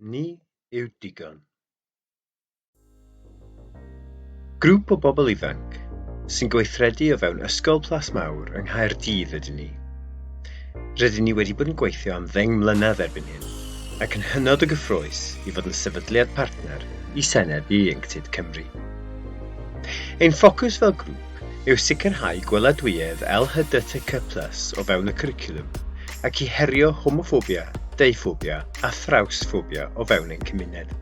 Ni yw digon. Grŵp o bobl ifanc sy'n gweithredu o fewn Ysgol Plas Mawr yng Nghaerdydd ydyn ni. Rydyn ni wedi bod yn gweithio am ddeng mlynedd erbyn hyn ac yn hynod o gyffrous i fod yn sefydliad partner i Senedd Ieuenctid Cymru. Ein ffocws fel grŵp yw sicrhau gweladwyedd LHDTQ plus o fewn y cwricwlwm, ac i herio homoffobia, deuffobia a thrawsffobia o fewn ein cymuned.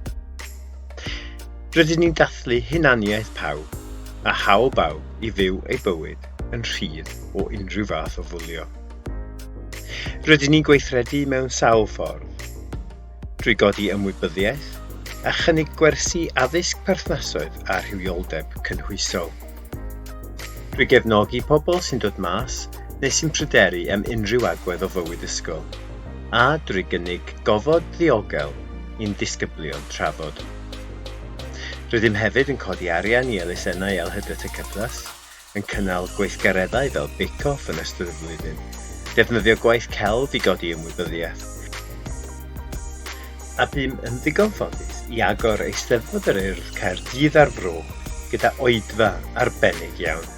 Rydyn ni'n dathlu hunaniaeth pawb a hawl bawb i fyw ei bywyd yn rhydd o unrhyw fath o fwlio. Rydyn ni'n gweithredu mewn sawl ffordd. drwy godi ymwybyddiaeth a chynnig gwersi addysg perthnasoedd a rhywioldeb cynhwysol. Drwy gefnogi pobl sy'n dod mas neu sy'n pryderu am unrhyw agwedd o fywyd ysgol, a drwy gynnig gofod ddiogel i'n disgyblion trafod. Rydym hefyd yn codi arian i elusennau LHDTC Plus yn cynnal gweithgareddau fel Bake Off yn ystod y flwyddyn, defnyddio gwaith celf i godi ymwybyddiaeth, a bûm yn ddigon ffodus i agor Eisteddfod yr Urdd Caerdydd a'r Fro gyda oedfa arbennig iawn.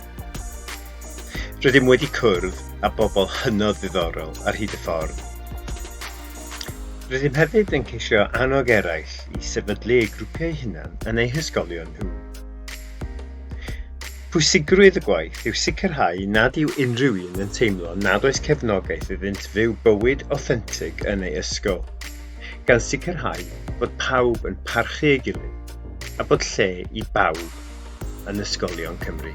Rydym wedi cwrdd â bobl hynod ddiddorol ar hyd y ffordd. Rydym hefyd yn ceisio annog eraill i sefydlu eu grwpiau hunan yn eu hysgolion nhw. Pwysigrwydd y gwaith yw sicrhau nad yw unrhyw un yn teimlo nad oes cefnogaeth iddynt fyw bywyd awthentig yn ei ysgol, gan sicrhau bod pawb yn parchu ei gilydd a bod lle i bawb yn ysgolion Cymru.